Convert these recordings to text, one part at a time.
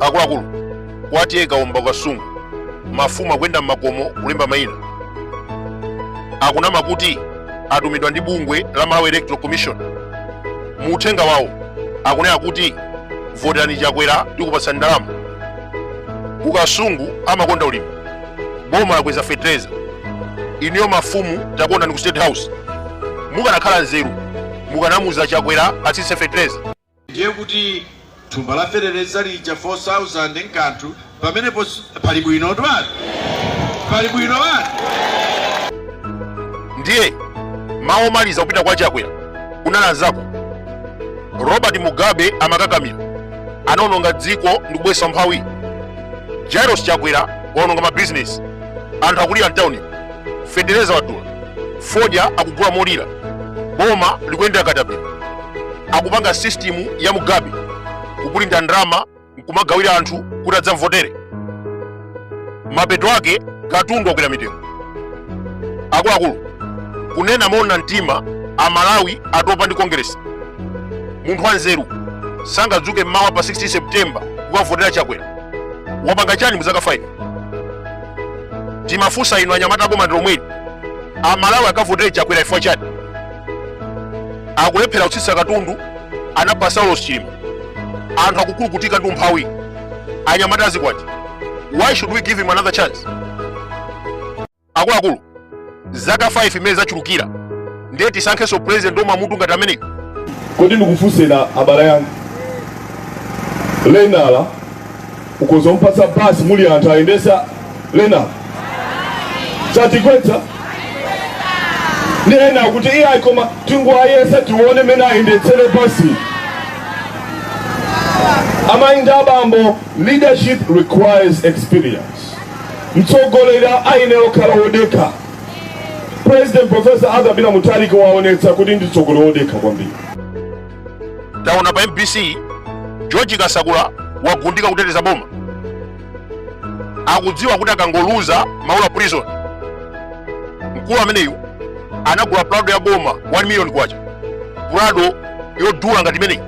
akuluakulu kwatiyekaomba ku Kasungu mafumu akuyenda m'makomo kulemba mayina akunama kuti atumidwa ndi bungwe la malawi electoral commission mu uthenga wawo akunena kuti voterani chakwera tikupatsani ndalama ku kasungu amakonda ulimi boma lakweza fetereza inuyo mafumu takondani ku state house mukanakhala nzeru mukanamuza chakwera atsitse fetereza ndiye kuti thumba la feteleza lija 4000 nkanthu pamenepo si- pali bwino twati pali bwino wati ndiye mawu omaliza kupita kwa chakwera kunali anzako robert mugabe amakakamira anaononga dziko ndi kubweretsa umphawi jairos chakwera waononga mabizinesi anthu akulira mtauni fetereza wadula fodya akugula molira boma likuyendera katapira akupanga sistimu ya mugabe kupulinta ndalama nkumagawira anthu kuti adzamvotere mapeto ake katundu wakwera mitengo akuluakulu kunena moona mtima amalawi atopa ndi kongeresi munthu wanzeru sangadzuke mmawa pa 16 septemba kukavotera chakwera wapanga chani muzaka 5 timafunsa inu anyamata aboma ndi lomweli amalawi akavotere chakwera chifukwa chani akulephera kutsitsa katundu anapha saulos chilima anthu akukulukutika ndi umphawi anyamata adzikwati why should we give him another chance akuluakulu zaka 5 imene zachulukira ndiye tisankhenso president omwe amutu ngati ameneyo kodi ndikufunseni abale anga lenala ukoza kumpatsa basi muli anthu ayendetse lenala satigwetsa ndi ena kuti iye ayi koma tingowayesa tione mene ayendetsere basi amayi ndi abambo leadership requires experience mtsogoleri ayenera kukhala wodekha president professor arthur peter mutharika waonetsa kuti ndi mtsogoleri wodekha kwambiri taona pa mbc george kasakula wagundika kuteteza boma akudziwa kuti akangoluza maula prison mkulu ameneyu anagula prado ya boma 1 million kwacha prado yodula ngati imeneyi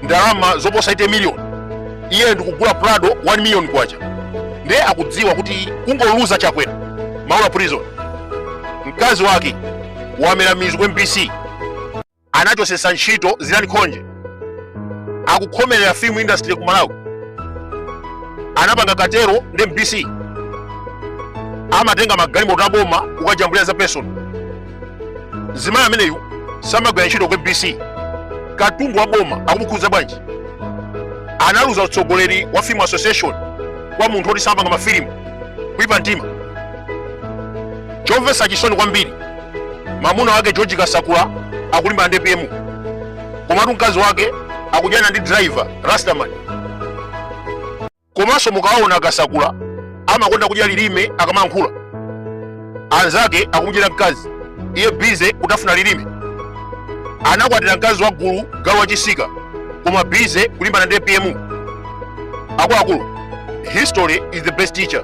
ndalama zoposa 8 million iye ndikugula prado 1 million kwacha ndiye akudziwa kuti kungoluza chakwera maula prison mkazi wake wamera mizu ku mbc anachosesa ntchito zilani khonje akukhomerera film industry ku malawi anapanga katero ndi mbc amatenga magalimoto aboma kukajambulira za personal zimayi ameneyu samagwira ntchito ku mbc katundu wa boma akumukhuza bwanji analuza utsogoleri wa film association kwa munthu oti samapanga mafilimu kuipa mtima chomvetsa chisoni kwambiri mamuna wake george kasakula akulimbana ndi apm komatu mkazi wake akudyana ndi driver rastaman komanso mukawaona kasakula amakonda kudya lilime akamankhula anzake akumudyera mkazi iye bize kutafuna lilime anakwatira mkazi wa gulu galu wachisika koma bize kulimbana ndi apm akuluakulu history is the best teacher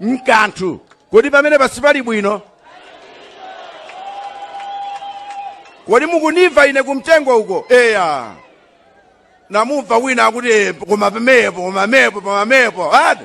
nkanthu. Kodi pamenepo sipali bwino? Kodi mukundimva ine kumtengo uko? Eya. Namumva wina akuti "Eh, koma mphepo, koma mphepo, koma mphepo. Ati?